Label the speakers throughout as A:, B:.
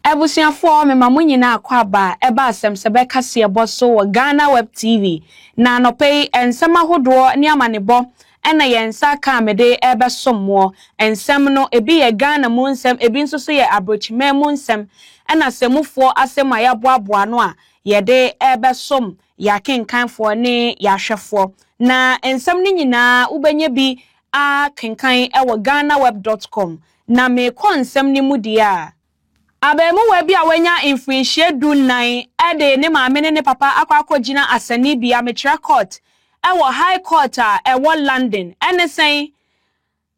A: Abusuafoɔ mema mo nyinaa akwaaba a ɛba asɛm sɛ bɛ kaseɛbɔ so wɔ Ghana Web TV. Na anɔpa yi nsɛm ahodoɔ ne amanebɔ na yɛn nsa aka a mede rebɛsom moɔ. Nsɛm no ebi yɛ Ghana mu nsɛm, ebi nso so yɛ abrokyiman mu nsɛm ɛna asemufoɔ asɛm a yɛaboaboa ano a yɛde rebɛsom yɛn akenkanfoɔ ne yɛn ahwɛfoɔ. Na nsɛm no nyinaa wobɛnya bi ara kenkan wɔ Ghanaweb dot com, na merekɔ nsɛm no mu deɛ a. Abarimuwa bi a wanya mfirinhyia du nnan de ne maame ne ne papa akɔ akɔgyina asɛnnibea, mekyerɛ court, wɔ High Court a ɛwɔ London. Ɛne sɛn?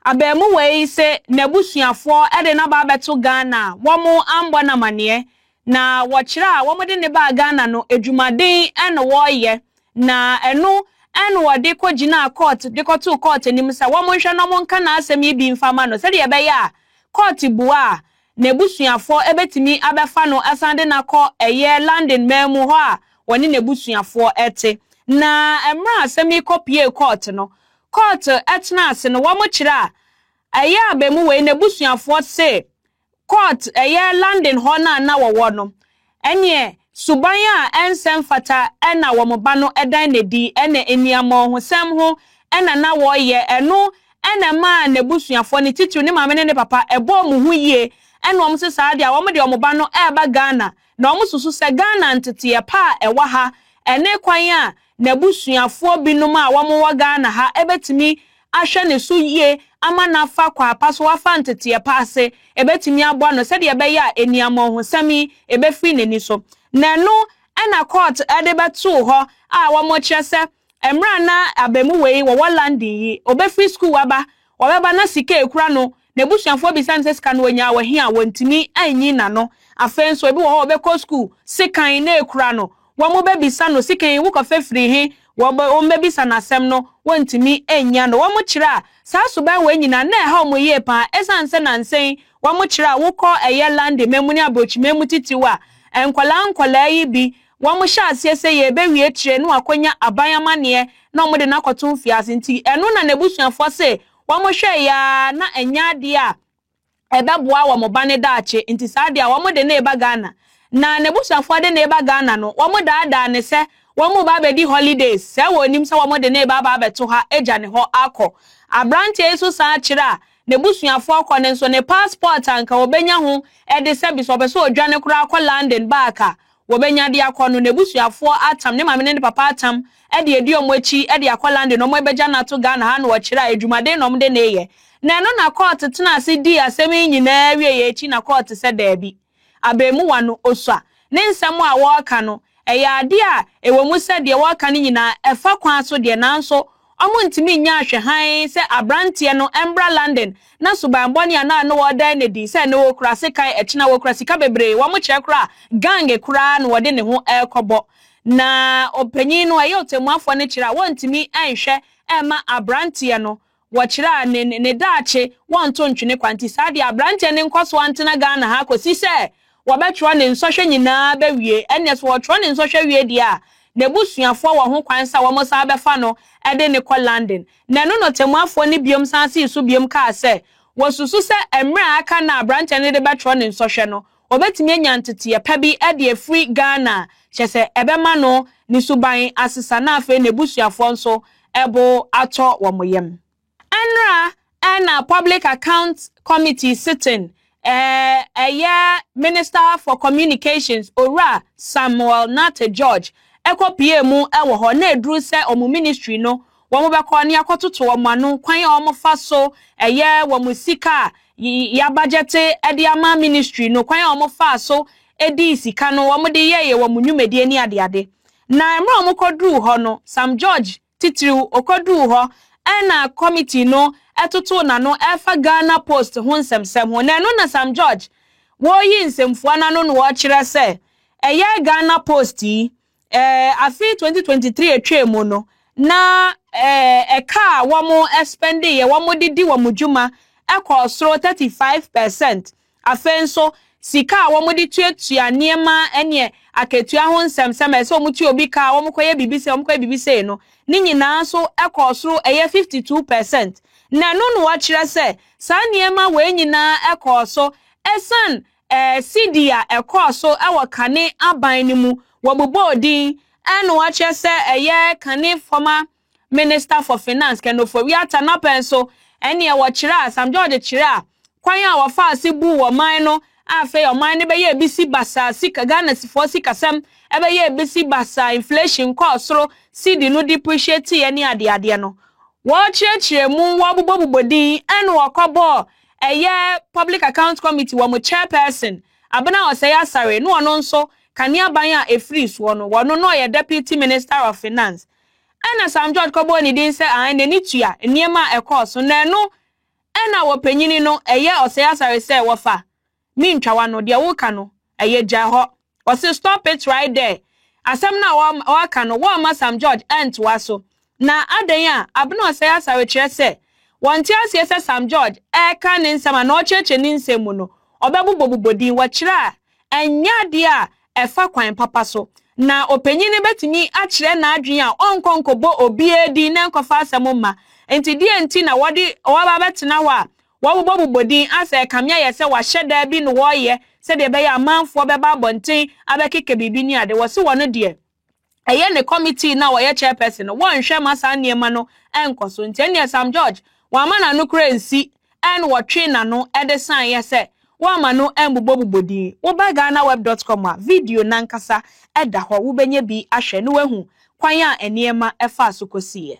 A: Abarimuwa yi se n'abusuafoɔ de no aba abɛto Ghana a, wɔammɔ no amanneɛ. Na wɔkyerɛ a wɔde no baa Ghana no, adwumaden na wɔreyɛ, na ɛno na wɔde kɔgyinaa kɔɔt de kɔtoo kɔɔt anim sɛ wɔnhwɛ na wɔnka n'asɛm yi bi mfa mma no sɛdeɛ ɛbɛyɛ a kɔɔt bua a, n'abusuafoɔ bɛtumi abɛfa no asan de no akɔ ɛyɛ London man mu hɔ a wɔne n'abusuafoɔ te. Na mmerɛ a asɛm yi kɔpuee kɔɔt no, kɔɔt tenaa ase no, wɔkyerɛ a ɛyɛ a abamuwa yi n'abusuafoɔ se Court, ɛyɛ London hɔ no a na wɔwɔ no, ɛneɛ suban a ɛnsɛ mfata na wɔn ba no dan no adi, ɛna aniammɔnhosɛm ho na na wɔreyɛ, ɛno na ɛmaa n'abusuafoɔ, ne titiriw ne maame ne ne papa, ɛbɔɔ wɔn ho yie, ɛna wɔn se saa deɛ a, wɔn deɛ wɔn ba no reba Ghana, na wɔsusu sɛ Ghana nteteɛ pa a ɛwɔ ha, ɛne kwan a N'abusuafoɔ binom a wɔwɔ Ghana ha bɛtumi ahwɛ ne so yie ama no afa kwaapa so, wafa nteteɛ pa ase, ɛbɛtumi aboa no sɛdeɛ ɛbɛyɛ a aniammɔnhosɛm yi ɛbɛfiri n'ani so. Na ɛno na court de bɛtoo hɔ a wɔkyerɛ sɛ mmerɛ a na abamuwa yi wɔwɔ London yi, ɔbɛfiri sukuu aba, ɔbɛba na sika a ɛkura no N'abusuafoɔ bisa no sɛ sika no ɔnyaa wɔ he a, wɔntumi nnyi n'ano. Afei nso, ebi wɔ hɔ a wɔbɛkɔ sukuu, sekan na ekura no, wɔbɛbisa no sika yi wokɔfa firi he, wɔbɛbisa no asɛm no, wɔntumi nnya no. Wɔkyerɛ a, saa suban wei nyinaa, na ɛha wɔn yie paa esiane sɛ nnansa yi wɔkyerɛ a wokɔ ɛyɛ London ma mu ne aborɔkyima mu titiriw a, nkwadaa nkwadaa yi bi, wɔhyɛ aseɛ sɛ yɛrebɛwie tire na wɔakɔnya aban amanneɛ na wɔde no akɔto mfiase nti, ɛno na n'abusuafoɔ se Wɔhwɛe ara na ɛnyɛ ade a ɛbɛboa wɔn ba no daakye, nti saa de a wɔde no reba Ghana. Na n'abusuafoɔ de no reba Ghana no, wɔdaadaa no sɛ wɔreba abɛdi holidays, sɛɛ wɔnnim sɛ wɔde no reba aba abɛto ha agya ne hɔ akɔ. Aberanteɛ yi nso san kyerɛ a n'abusuafoɔ kɔ no nso, ne passport a anka ɔbɛnya ho ɛde sɛ bi sɛ ɔpɛ sɛ ɔdwane koraa kɔ London back a, Wɔbɛnya de akɔ no, n'abusuafoɔ atam, ne maame ne ne papa atam de adi wɔn akyi de akɔ London, wɔn abɛgya no ato Ghana ha na wɔkyerɛ a adwumaden na wɔde no reyɛ. Na ɛno na kɔɔte tenaa ase dii asɛm yi nyinaa wieeɛ akyi na kɔɔte sɛ daabi. Abarimuwa no, Osua, ne nsɛm a ɔreka no, ɛyɛ adeɛ a ɛwɔ mu sɛ deɛ ɔreka no nyinaa, ɛfa kwan so deɛ nanso Wɔntumi nnya nhwɛ hann sɛ aberanteɛ no mbra London na suban bɔne a na no ɔɔdae no adi sɛ no ɔɔkura sekan ɛkyena wɔkura sika bebree wɔn kyerɛ koraa gang koraa na wɔde ne ho ɛɛkɔbɔ na ɔpanyin no ɛyɛ ɔtɛmmuafoɔ no kyerɛ a wɔntumi nhwɛ ɛmma aberanteɛ no wɔkyerɛ a ne ne daakye wɔnto ntwene kwa nti saa deɛ aberanteɛ no nkɔso antena Ghana ha kɔsi sɛ wɔbɛtwerɛ ne nsɔhwɛ nyinaa bɛwie. Ɛnneɛ sɛ wɔtwerɛ ne nsɔhwɛ wie deɛ a, n'abusuafoɔ wɔ ho kwan sɛ wɔsan bɛfa no de no kɔ London. Na ɛno na ɔtɛmmuafoɔ no biom san see so biom kaa sɛ, wɔsusu sɛ mmerɛ a aka no a aberanteɛ no de bɛtwerɛ ne nsɔhwɛ no, ɔbɛtumi anya nteteɛ pa bi de afiri Ghana a kyerɛ sɛ ɛbɛma no ne suban asesa na afei n'abusuafoɔ nso bo atɔ wɔn yam. Nra na Public Account Committee Sitting ɛɛ yɛ Minister for Communications Owura Samuel Nartey George ɛkɔ piee mu wɔ hɔ na ɛduru sɛ wɔn Ministry no wɔn bɛkɔ ne akɔtoto wɔn ano kwan a wɔn fa so yɛ wɔn sika a ya bagyɛte de ama Ministry no kwan a wɔn faa so dii sika no wɔn de yɛɛɛ wɔn nnwumadie ne adeade na mmerɛ wɔn kɔduruu hɔ no Sam George Titiriw, okoduu hɔ ara na kɔmitii no totoo n'ano refa Ghana Post ho nsɛmnsɛm ho, na ɛno na Sam George wɔreyi nsɛmfua no ano na ɔrekyerɛ sɛ ɛyɛ Ghana Post yi. Ɛɛ, afe 2023 a etwaam no, na ɛɛ, ɛka a wɔspɛndeeɛ, wɔde di wɔn dwuma kɔɔ soro 35 per cent Afei nso, sika a wɔde tuatua nneɛma ne akatua ho nsɛmnsɛm a ɛsɛ sɛ wɔtua obi ka a wɔkɔyɛ biribi sei, wɔkɔyɛ biribi sei no, ne nyinaa nso kɔɔ soro, ɛyɛ fifty two percent. Na ɛno na wɔakyerɛ sɛ saa nneɛma wei nyinaa kɔɔ so ɛsiane sidi a ɛkɔɔ so wɔ kane aban no mu, wɔbobɔɔ din na wɔakyerɛ sɛ ɛyɛ kane former Minister for Finance, Ken Ofori-Atta n'apɛ nso, ɛnneɛ wɔkyerɛ a, Sam George kyerɛ a, kwan a wɔfaa se buu ɔman no a afei ɔman no bɛyɛɛ bisi basaa sika, Ghanafoɔ sikasɛm bɛyɛɛ bisi basaa, inflation kɔɔ soro, cedi no depreciateeɛ ne adeadeɛ no. Wɔkyerɛkyerɛɛ mu, wɔbobɔbobɔ din, ɛnna wɔkɔbɔɔ ɛyɛ Public Accounts Committee wɔn chairperson, Abena Osei Asare, na ɔno nso, Kaneaban a ɛfiri soɔ no, ɔno na ɔyɛ Deputy Minister of Finance. Ɛnna Sam George kɔbɔɔ ne din sɛ ahan n'ani tua nneɛma a ɛkɔɔ so, na ɛno na wɔpanyini no, ɛyɛ ɔsɛe asare sɛ wɔfa me ntwawa no, deɛ woka no, ɛyɛ gyae hɔ. Ɔse stop it right there. Asɛm no a ɔaka no, wɔamma Sam George antoa so. Na adɛn a Abena ɔsɛe asare kyerɛ sɛ wɔnte aseɛ sɛ Sam George ɛreka ne nsɛm anaa ɔrekyerɛkyerɛ ne nsɛm mu no, ɔbɛbobɔbobɔ din, wɔkyerɛ a, ɛnyɛ adeɛ a ɛfa kwan papa so, na ɔpanyin no betumi akyerɛ n'adwene a ɔnkɔ nkɔbɔ obiara din na nkɔfa asɛm mma. Enti deɛn nti na wɔde wɔaba abɛtena hɔ a wɔbobɔbobɔ din asɛ ɛkame ayɛ sɛ wɔahyɛ da bi na wɔreyɛ sɛdeɛ ɛbɛyɛ a amanfoɔ bɛba abɔnten abɛkeka biribi ne ade? Wɔse wɔn deɛ. ɛyɛ ne kɔmitii no a ɔyɛ chairperson no, wɔnhwɛ ma saa nneɛma no nkɔ so. Nti ɛnneɛ Sam George, wamma n'ano koraa ansi and wɔtwee n'ano de saeɛ sɛ wamma no ammobɔbobɔ din. Woba Ghanaweb dot com a, video no ankasa da hɔ, wobɛnya bi ahwɛ na woahu kwan a nneɛma faa so kɔsiiɛ.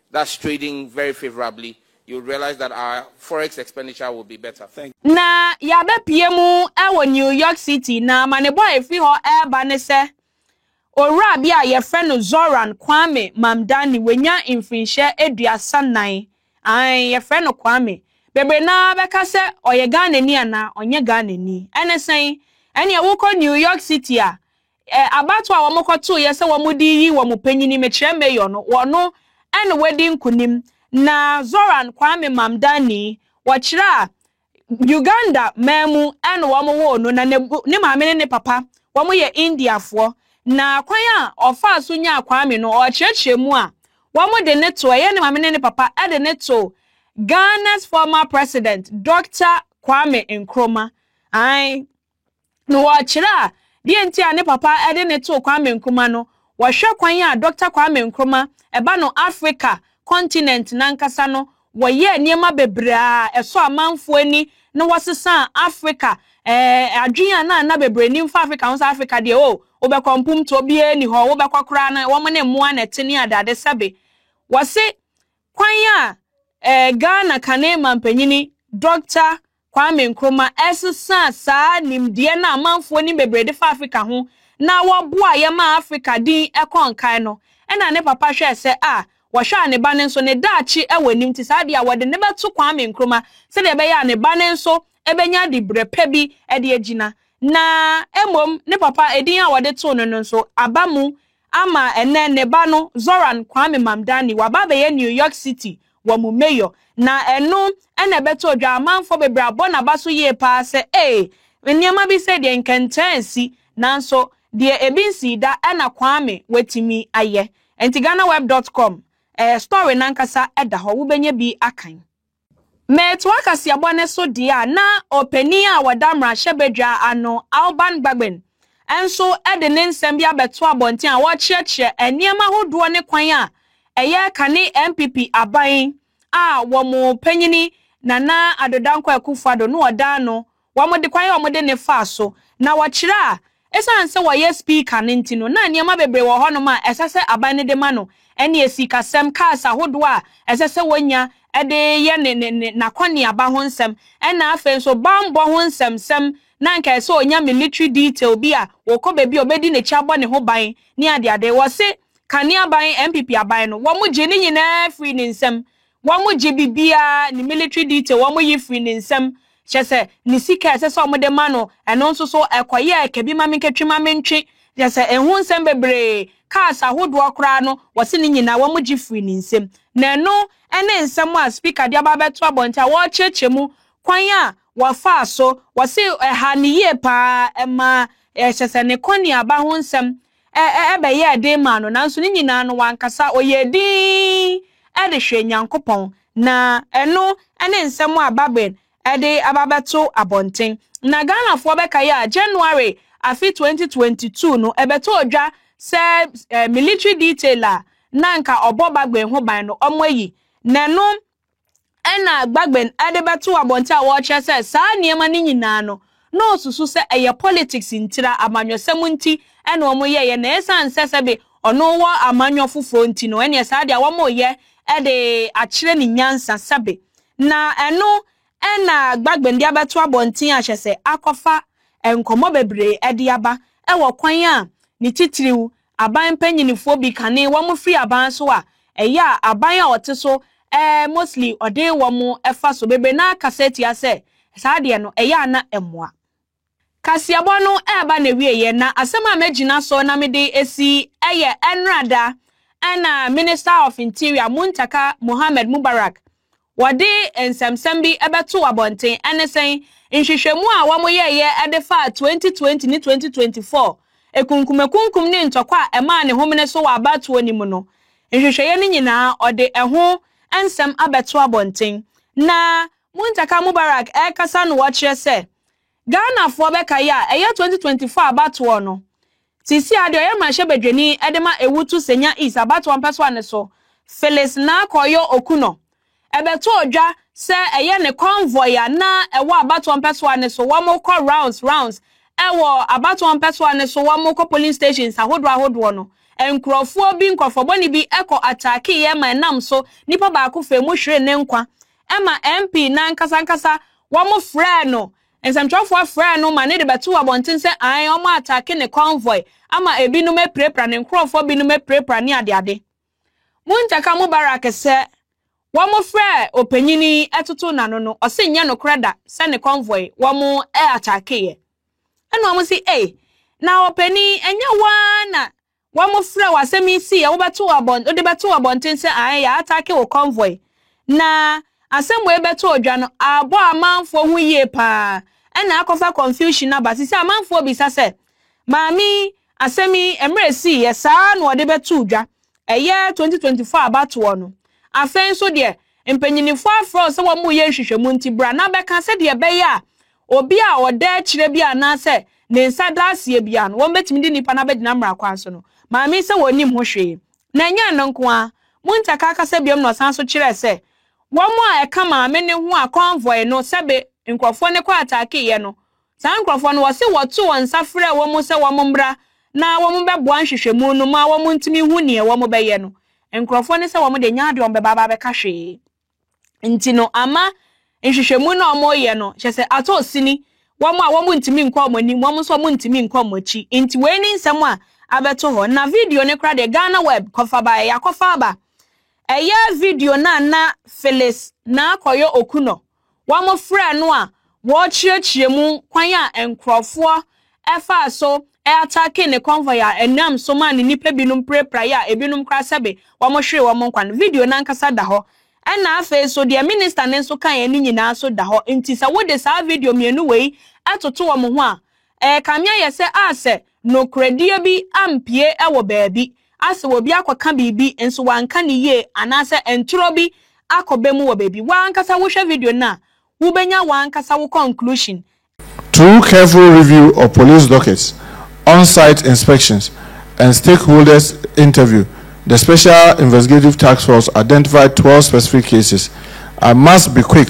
B: That's trading very favorably, you would realize that our forex expenditure will be better. Na yɛabɛpue
A: mu wɔ New York City, na amanebɔ a ɛfiri hɔ reba ne sɛ, owura bi a yɛfrɛ no Zoran Kwame Mamdani, wanya mfirinhyɛ aduasa nnan. Aane, yɛfrɛ no Kwame. Bebree no ara bɛka sɛ ɔyɛ Ghanani anaa ɔnyɛ Ghanani. Ɛne sɛn? Ɛneɛ wokɔ New York City a, Ɛ, abatoɔ a wɔkɔtoeɛ sɛ wɔde reyi wɔn panyini, mekyerɛ Mayor no, wɔno na wadi nkonim, na Zoran Kwame Mamdani, wɔkyerɛ a, Uganda man mu na wɔwoo no, na n'abu, ne maame ne ne papa, wɔyɛ Indiafoɔ. Na kwan a ɔfaa so nyaa Kwame no, ɔrekyerɛkyerɛ mu a, wɔde no too, ɛyɛ ne maame ne ne papa de no too Ghana's former President, Doctor Kwame Nkrumah. Aane. na wɔkyerɛ a deɛ nti a ne papa de no too Kwame Nkrumah no, wɔhwɛ kwan a Dɔkta Kwame Nkrumah ɛba no Afrika kɔntinɛnt no ankasa no, wɔyɛɛ nneɛma bebree a ɛsɔ amanfoɔ ani na wɔsesaa Afrika ɛɛ adwene a na na bebree nim fa Afrika ho sɛ Afrika deɛ o, wobɛkɔ mpomtoɔ biara nni hɔ, wobɛkɔ koraa no wɔn ne mmoa na ɛte ne adeade sɛbe. Wɔse kwan a ɛɛ Ghana kane mampanyini Dɔkta Kwame Nkrumah ɛsesaa saa nimdeɛ no a amanfoɔ nim bebree de fa Afrika ho na wɔboaa yɛ maa Afrika din kɔɔ nkae no. Ɛna ne papa hwɛɛ sɛ a wɔhwɛ a ne ba no nso ne daakye wɔ anim nti saa adeɛ a wɔde no bɛto Kwame Nkrumah sɛdeɛ ɛbɛyɛ a ne ba no nso bɛnya dibrɛ pa bi de agyina. Na mmom ne papa edin a wɔde too no no nso aba mu Ama ɛnnɛ, ne ba no, Zoran Kwame Mamdani, waba abɛyɛ New York City wɔ mu mayor, na ɛno na ɛbɛto Odwamanfoɔ bebree abɔ n'abaso yie pa ara sɛ, Ee, nneɛma bi sei deɛ nkɛntɛn asi, nanso deɛ ebi nsii da na Kwame watumi ayɛ. Enti GhanaWeb dot com, ɛɛ, story no ankasa da hɔ, wobɛnya bi akan. Metoa kaseɛbɔ no so deɛ a, na ɔpanin a ɔda mmarahyɛbadwa ano, Alban Bagbin, nso de ne nsɛm bi abɛto abɔnten a ɔrekyerɛkyerɛ nneɛma ahodoɔ ne kwan a ɛyɛ kane NPP aban a wɔn panyini Nana Addo Dankwa Akufo-Addo no ɔda ano Wɔde kwan a wɔde no faa so na wɔkyerɛ a esiane sɛ wɔyɛ Speaker no nti no, na nneɛma bebree wɔ hɔnom a ɛsɛ sɛ aban no de ma no, ɛne sikasɛm, cars ahodoɔ a ɛsɛ sɛ wɔnya de yɛ ne ne ne n'akɔneaba ho nsɛm, ɛna afei nso bammɔ ho nsɛmsɛm, na anka ɛsɛ sɛ ɔnya military detail bi a ɔkɔ baabi a ɔbɛdi n'akyi abɔ ne ho ban ne adeade. Wɔse Kane aban, NPP aban no, wɔgye ne nyinaa firii ne nsam Wɔn gye biribiara, ne military detail wɔn yi firi ne nsam, kyerɛ sɛ ne sika a ɛsɛ sɛ wɔn de ma no, ɛno nso so ɛkɔ yɛ ɛka bi ma me nka twi ma me ntwe, kyerɛ sɛ ɛho nsɛm bebree, cars ahodoɔ koraa no wɔse ne nyinaa wɔn gye firi ne nsam. Na ɛno ne nsɛm a speaker de aba abɛto abɔnten a wɔrekyerɛkyerɛ mu kwan a wɔfaa so, wɔse ɛhaa no yie paa, ɛmaa kyerɛ sɛ ne kɔneaba ho nsɛm ɛbɛyɛɛ den maa no, nanso ne nyinaa no, wankasa. Ɔyɛɛ dinn de hwɛɛ Nyankopɔn. Na ɛno ne nsɛm a Babin de aba abɛto abɔnten. Na Ghanafoɔ bɛkae a, January afe 2022 no, ɛbɛtɔɔ dwa sɛ military detail a na anka ɔbɔ Bagbin ho ban no, wɔayi n'ano ɛnna Gbagben de bɛtoo abɔnten a wɔrekyerɛ sɛ saa nneɛma no nyinaa no, na ɔsusu sɛ ɛyɛ politics ntira, amanyɔsɛm nti na wɔyɛeɛ, na ɛsiane sɛ sɛbe ɔno wɔ amanyɔ foforɔ nti no, ɛnneɛ saa deɛ wɔreyɛ de akyerɛ ne nyansa sɛbe. Na ɛno na Gbagben de abɛto abɔnten ahyɛ sɛ akɔfa nkɔmmɔ bebree de aba wɔ kwan a ne titiriw Aban mpanyinfoɔ bi kane wɔn firi aban so a, ɛyɛ a aban a ɔte so eh mostly ɔde wɔn fa so bebree no ara kasa tia sɛ saa deɛ no ɛyɛ a na ɛmmoa. Kaseɛbɔ no reba n'awieɛ na asɛm a mɛgyina so na mede asi yɛ ɛnnora da na Minister of Interior Muntaka Mohammed Mubarak Wɔde nsɛmnsɛm bi bɛtoo abɔnten, ɛne sɛn? Nhwehwɛmu a wɔyɛeɛ de faa 2020 ne 2024 akunkumakunkum ne ntɔkwa a ɛmaa ne homene so wɔ abatoɔ no mu no nhwehwɛeɛ no nyinaa, ɔde ɛho nsɛm abɛto abɔnten. Na Muntaka Mubarak rekasa no wɔkyerɛ sɛ Ghanafoɔ bɛkae a ɛyɛ 2024 abatoɔ no, seesei ara deɛ ɔyɛ mmarahyɛbadwani de ma Ewutu Senya East abatoɔ mpɛsoa no so, Phyllis Narkɔyɔ Okunor, bɛtoo dwa sɛ ɛyɛ ne convoy a na ɛwɔ abatoɔ mpɛsoa no so wɔkɔ rounds rounds wɔ abatoɔ mpɛsoa no so wɔkɔ polling stations ahodoɔ ahodoɔ no nkorɔfoɔ bi nkorɔfoɔbɔne bi kɔ attackeeɛ ma ɛnam so nipa baako faa mu hweree ne nkwa ɛma MP no ankasa ankasa wɔn frɛɛ no, nsɛmtwerɛfoɔ frɛɛ no ma no de bɛtoo abɔnten sɛ ae wɔn ataake ne convoy ama ebinom apirapira ne nkorɔfoɔ binom apirapira ne adeade. Muntah ka Mubarak sɛ wɔn frɛɛ ɔpanyin yi totoo n'ano no ɔse nyɛ nokorɛ da sɛ ne convoy wɔn ataakeeɛ. Ɛna wɔn se ei na ɔpanin ɛnyɛ wo ara na Wɔfrɛ wo asɛm yi sii a wobɛto wo abɔn wode bɛto wo abɔnten sɛ ae yɛ atake wo convoy na asɛm wei bɛto odwa no abɔ amanfoɔ ho yie paa ɛna akɔfa confusion aba sesei amanfoɔ bisa sɛ maame yi asɛm yi mmerɛ esii yɛ saa na ɔde bɛtoo dwa ɛyɛ 2024 abatoɔ no afei nso deɛ mpanyinifoɔ afrɛ wo sɛ wɔn reyɛ nhwehwɛmu nti bra na bɛka sɛdeɛ ɛbɛyɛ a Obi a ɔda akyire biara anaasɛ ne nsa da aseɛ biara no, wɔbɛtumi de nipa no abɛgyina mmara kwan so no maame sɛ wɔnnim ho hwee. Na ɛnyɛ ɛno nko ara, Muntaka kasa biom na ɔsan nso kyerɛɛ sɛ wɔn a ɛka maame no ho a convoy no sɛbe nkorɔfoɔ no kɔ ataakeeɛ no, saa nkorɔfoɔ no wɔse wɔto wɔn nsa frɛɛ wɔn sɛ wɔn mmra na wɔn bɛboa nhwehwɛmu no ma wɔn ntumi hu neɛ wɔn bɛyɛ no, nkorɔfoɔ no sɛ wɔn deɛ ɛnyɛ adeɛ wɔn bɛba abɛka hwee. nti no ama nhwehwɛmu no a wɔreyɛ no kyɛ sɛ atɔ sini wɔn a wɔn ntumi nkɔ wɔn anim wɔn nso wɔn ntumi nkɔ wɔn akyi nti wei ne nsɛm a abɛto hɔ na video no kora deɛ Ghana web kɔfa baeɛ yɛakɔfa aba ɛyɛ video no a na Phyllis na akɔyɛ oku no Wɔfrɛɛ no a wɔrekyerɛkyerɛ mu kwan a nkurɔfoɔ faa so ataakee ne convoy a ɛnam so maa ne nnipa binom pirapirai a ebinom koraa sɛbe wɔhweree wɔn nkwa no. Video no ankasa da hɔ. Ɛnna afei nso, deɛ Minista no nso kaeɛ no nyinaa nso da hɔ. Enti sɛ wode saa video mmienu wei toto wɔn ho a, ɛrekame ayɛ sɛ a sɛ nokorɛdie bi ampue wɔ baabi. a sɛ obi akɔka biribi nso wanka no yie anaasɛ ntorɔ bi akɔba mu wɔ baabi. Wo ankasa wohwɛ video no a, wobɛnya wo ankasa wo conclusion. Through
C: careful review of police dockets, on-site inspections, and stakeholders interview, the Special Investigative Task Force identified twelve specific cases. I must be quick.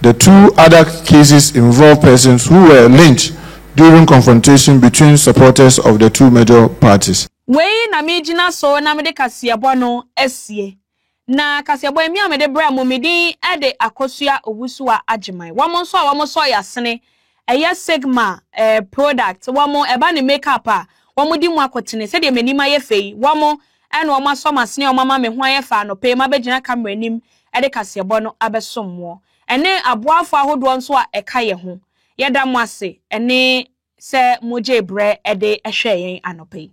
C: The two other cases involve persons who were lynched during confrontation between supporters of the two major parties. Wei na megyina
A: so na mede kaseɛbɔ no asie. Na kaseɛbɔ yi, me a mede brɛ mo, me din de Akosua Owusu-Agyemang. Wɔn nso a wɔsɔɔ yɛn asene Ɛyɛ sigma eh product wɔn ɛba ne make up a wɔn de mu akotene sɛdeɛ m'anim ayɛ fɛ yi wɔn ɛna wɔn asɔ m'asene a wɔn ama me ho ayɛ fɛ anɔpa yi m'abɛgyina camera anim ɛde kaseɛbɔ no abɛsom moɔ ɛne aboafoɔ ahodoɔ nso a ɛka yɛ ho yɛda mo ase ɛne sɛ mo gyee brɛ ɛde ɛhwɛɛ yɛn anɔpa yi.